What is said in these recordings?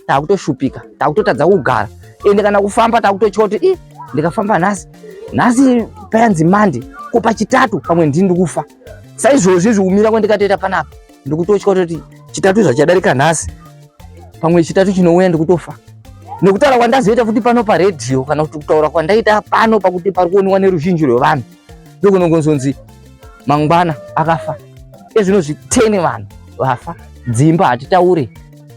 takutoshupika takutotadza kugara ende kana kufamba takutotya kuti i ndikafamba nhasi nhasi payanzi mande ko pachitatu pamwe ndini ndikufa saizvozvi zvikumira kwandikatoita panapa ndikutotya kuti chitatu zvachadarika nhasi pamwe chitatu chinouya ndikutofa nekutaura kwandazoita futi pano paredhiyo kana kuti kutaura kwandaita pano pakuti pari kuoniwa neruzhinji rwevanhu ndokunongonzonzi mangwana akafa ezvino zviteni vanhu vafa dzimba hatitaure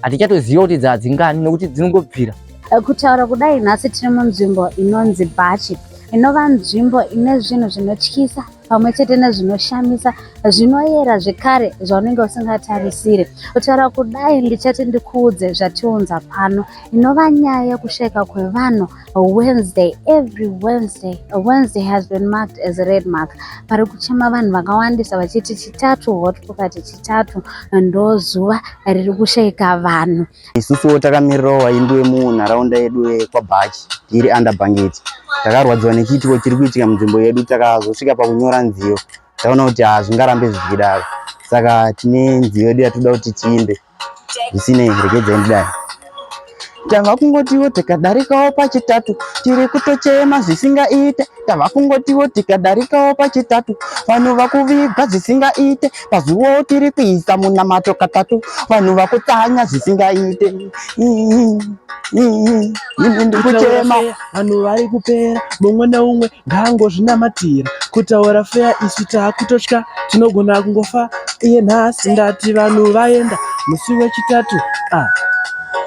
hatichatoziva kuti dzadzingani nekuti dzinongobvira eh, kutaura kudai nhasi tiri munzvimbo inonzi bhachi inova nzvimbo ine zvinhu zvinotyisa pamwe chete nezvinoshamisa zvinoyera zvekare zvaunenge usingatarisire kutaura kudai ndichati ndikuudze zvatiunza pano inova nyaya yekushaika kwevanhu Wednesday, every Wednesday, Wednesday has been marked as a red mark. Pari kuchema vanhu vakawandisa vachiti chitatu hot pocket chitatu ndo zuva riri kushaika vanhu. Isusuwo takamirirawo vaimbi vemunharaunda yedu yekwaBhachi tiri under bhangeti. Takarwadziwa nechiitiko chiri kuitika munzvimbo yedu takazosvika pakunyora nziyo taona kuti hazvingarambe zvichidaro saka tine nziyo yedu yatinoda kuti tiimbe. zvisinei regedzai ndidai tava kungotiwo tikadarikawo pachitatu tiri kutochema zvisingaite tava kungotiwo tikadarikawo pachitatu vanhu vakuvigwa zvisingaite pazuvawo tiri kuisa munamato katatu vanhu vakutsanya zvisingaite ini ndikuchema Vanhu vari kupera mumwe neumwe ngaangozvinamatira kutaura feya isu taakutotya tinogona kungofa iye nhasi ndati vanhu vaenda musi wechitatu ah.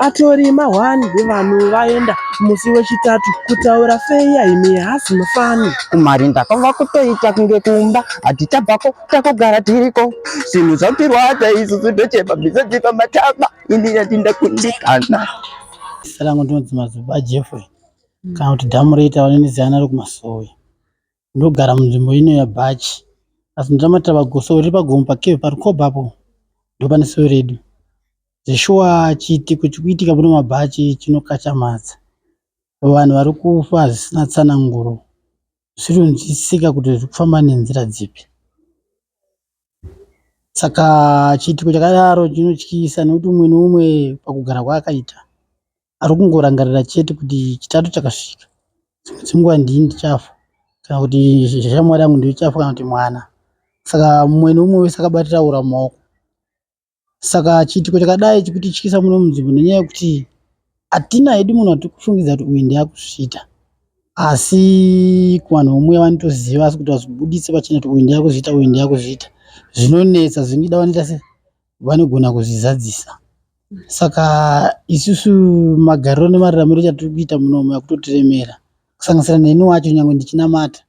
atori mahwani vanhu vaenda musi wechitatu kutaura feya imi hasi mufani kumarinda kwava kutoita kunge kumba hatichabvako takugara tiriko zvinhu zvatirwadza izvi zvidochema bizodzipa mataba ini ndati ndakundikana zita rangu ndinonzi mazuba jeffrey mm. kana kuti dhamureta vanoniziyana ari kumasowe ndogara munzvimbo ino yabhachi asi ndotamatira pagoso riri pagomo pakeve parukobha apo ndopane sowe redu zveshuwa chiitiko chikuitika pano mabhachi chinokachamadza vanhu vari kufa zvisina tsananguro zvisinonzwisisika kuti zviri kufamba nenzira dzipi Saka chiitiko chakadaro chinotyisa nekuti umwe neumwe pakugara kwaakaita ari kungorangarira chete kuti chitatu chakasvika dzimwe dzenguva ndini ndichafa kana kuti shamwari yangu ndiyo ichafa kana kuti mwana. Saka umwe neumwe wese akabatira hura mumaoko. Saka chiitiko chakadai chikutityisa muno munzvimbo nenyaya yekuti hatina hedu munhu watikufungidza kuti uyu ndiye akuzviita asi kuvanhu vomwe vanotoziva asi kuti vazvibuditse pachena kuti uyu ndiye akuzviita uyu ndiye akuzviita zvinonetsa zvingida vanoita se vanogona kuzvizadzisa saka isusu magariro nemararamiro chatiri kuita munomu akutotiremera kusanganisira neni wacho nyange ndichinamata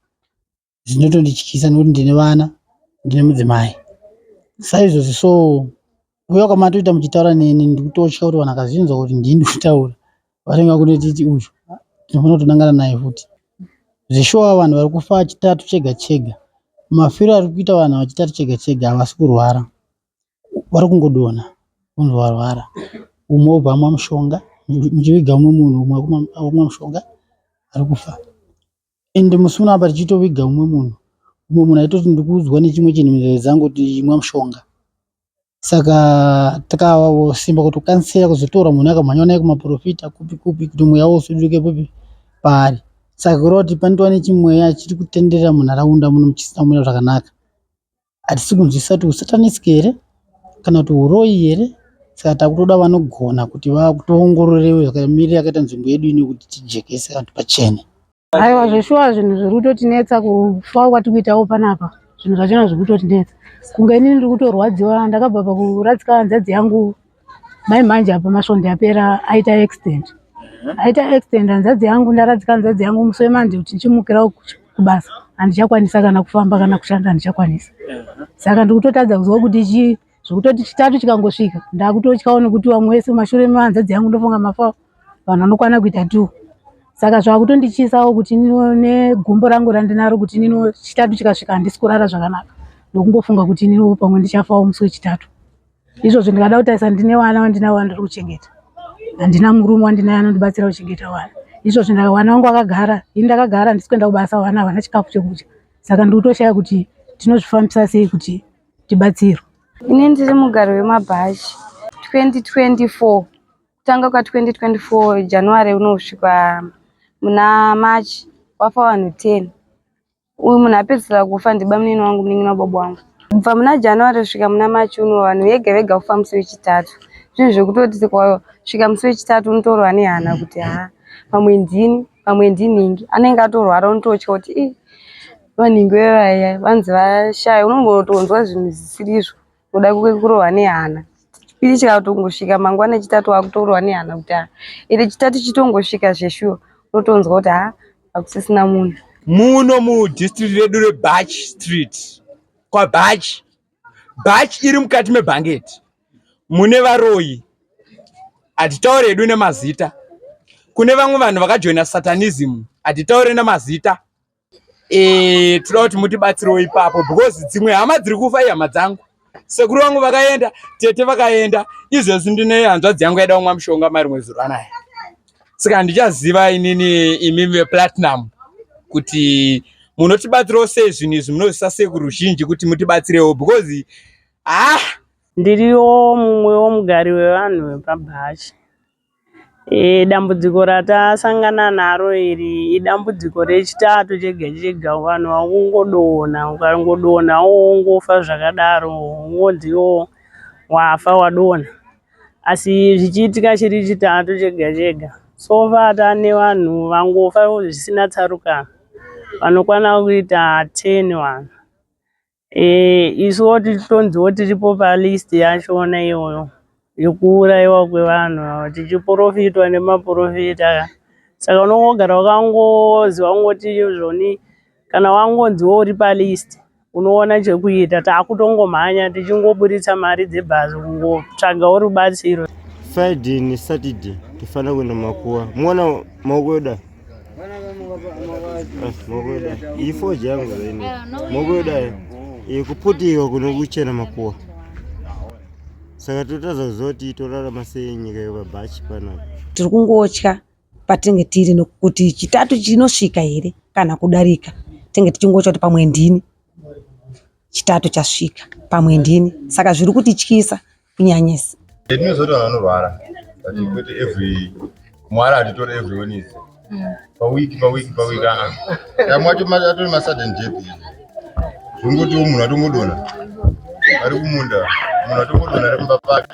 zvinotondityisa nekuti ndine vana ndine mudzimai saizvozvi so kuuya kwamatoita muchitaura neni ndikutotya kuti vanhu akazvinzwa kuti ndini ndikutaura vanenge vakunotiti uyu ndinofanira kutonangana naye futi zveshuwa vanhu vari kufa chitatu chega chega mafiro ari kuita vanhu vachitatu chega chega havasi kurwara vari kungodona kunzi varwara umwe obva amwa mushonga muchiviga umwe munhu umwe akumwa mushonga ari kufa and musi uno apa tichitoviga umwe munhu umwe munhu aitoti ndiri kuudzwa nechimwe chinhu munzeve dzangu kuti imwa mushonga saka takasimba kuti kukansera kuzotora munhu akamhanywa naye kumaprofita kupi kupi kuti mweya wosuduke kupi paari saka kureva kuti panotova nechimweya chiri kutenderera munharaunda muno muchisina kumira zvakanaka hatisi kunzwisisa kuti husatanist here kana kuti huroyi here saka takutoda vanogona kuti vakutoongororewo zvakamirira akaita nzvimbo yedu ino kuti tijekese vantu pachene aiwa zveshuwa zvinhu zviri kutotinetsa kufa kwati kuitawo panapa zvinhu zvachona zviri kutotinetsa kunge inini ndiri kutorwadziwa ndakabva pakuradzika hanzadzi yangu Mai manje apa masvondo apera aita accident. Aita accident hanzvadzi yangu ndaradzika hanzvadzi yangu musi wemanje kuti ndichimukira kubasa handichakwanisa kana kufamba kana kushanda handichakwanisa. Saka ndikutotadza kuziva kuti chi zvekutoti chitatu chikangosvika ndakutotyawo nekuti vamwe wese mashure mehanzvadzi yangu ndofunga mafa vanhu vanokwana kuita two. Saka zvakutondichisawo kuti negumbo rangu randinaro kuti nino chitatu chikasvika handisi kurara zvakanaka ndokungofunga kuti nino pamwe ndichafawo musi wechitatu. izvozvo ndikada kutarisa ndine wana wandinavo wandiri kuchengeta handina murume wandinaye anondibatsira kuchengeta wana izvozvo ndakawana wangu akagara ini ndakagara handisi kuenda kubasa wana havana chikafu chekudya saka ndikutoshaya kuti tinozvifambisa sei kuti tibatsirwe ini ndiri mugari wemabhachi 2024 kutanga kwa 2024 january unosvika muna march wafa vanhu 10 Uyu munhu apedzisira kufa ndibamunini wangu munin'ina wababa wangu. Kubva muna January kusvika muna March uno vanhu vega vega kufa musi wechitatu. Zvinhu zvekutoti sika musi wechitatu unotorwa nehana kuti haa pamwe ndini pamwe ndinhingi anenge atorwara unototya kuti ii vanhingi vevaya vanzi vashaya unongotonzwa zvinhu zvisiri izvo. kuda kurohwa nehana chipiri chikatongosvika mangwana chitatu wakutorohwa nehana kuti haa ende chitatu chitongosvika zveshuwa unotonzwa kuti haa hakusisina munhu muno mudistrict redu rebach street kwabach bach iri mukati mebhangeti mune varoyi hatitaure hedu nemazita kune vamwe vanhu vakajoina satanism hatitaure nemazita Eh, toda kuti mutibatsirewo ipapo because dzimwe hama dziri kufa ihama dzangu sekuru vangu vakaenda tete vakaenda izvezvi ndine hanzvadzi yangu yaida kumwa mushonga marimwe zuro anaya saka handichaziva inini imi veplatinum kuti munotibatsirawo sei zvinhu izvi munozvisa sekuru zhinji kuti mutibatsirewo because ah ndiriwo mumwewo mugari wevanhu vepabhachi Dambudziko ratasangana naro iri idambudziko rechitatu chega chega vanhu vakungodonha ukangodonha wongofa zvakadaro wongonzi iwewe wafa wadonha asi zvichiitika chiri chitatu chega chega so far tane vanhu vangofa zvisina tsarukano vanokwana kuita 10 vanhu Eh, isuwo tichitonziwo tiripo palist yachona iyoyo yekuurayiwa kwevanhu ava tichiporofitwa nemaporofita aya saka unongogara wakangozi wangoti zvoni kana wangonziwo uri palist unoona chekuita takutongomhanya tichingoburitsa mari dzebhazi kungotsvagawo rubatsiro Friday neSaturday tifanira kuenda makuwa. Muona maoko yoda. ifoji yangu zaini mokuyodayo ikuputiwa kuno kuchena makuwa saka totadza kuziva kuti torarama sei nyika yevabhachi panapa tiri kungotya patinge tiri nokuti chitatu chinosvika here kana kudarika tinge tichingotya kuti pamwe ndini Chitatu chasvika pamwe ndini saka zviri kutityisa kunyanyisa. Tinozoti vanhu vanorwara but mm. kwete every mwara atitore every Wednesday. Mm. Pa week pa week pa week ah. Kamwe acho atori ma sudden death. Zvongotiwo munhu atongodona. Ari kumunda munhu atongodona ari kumba pake.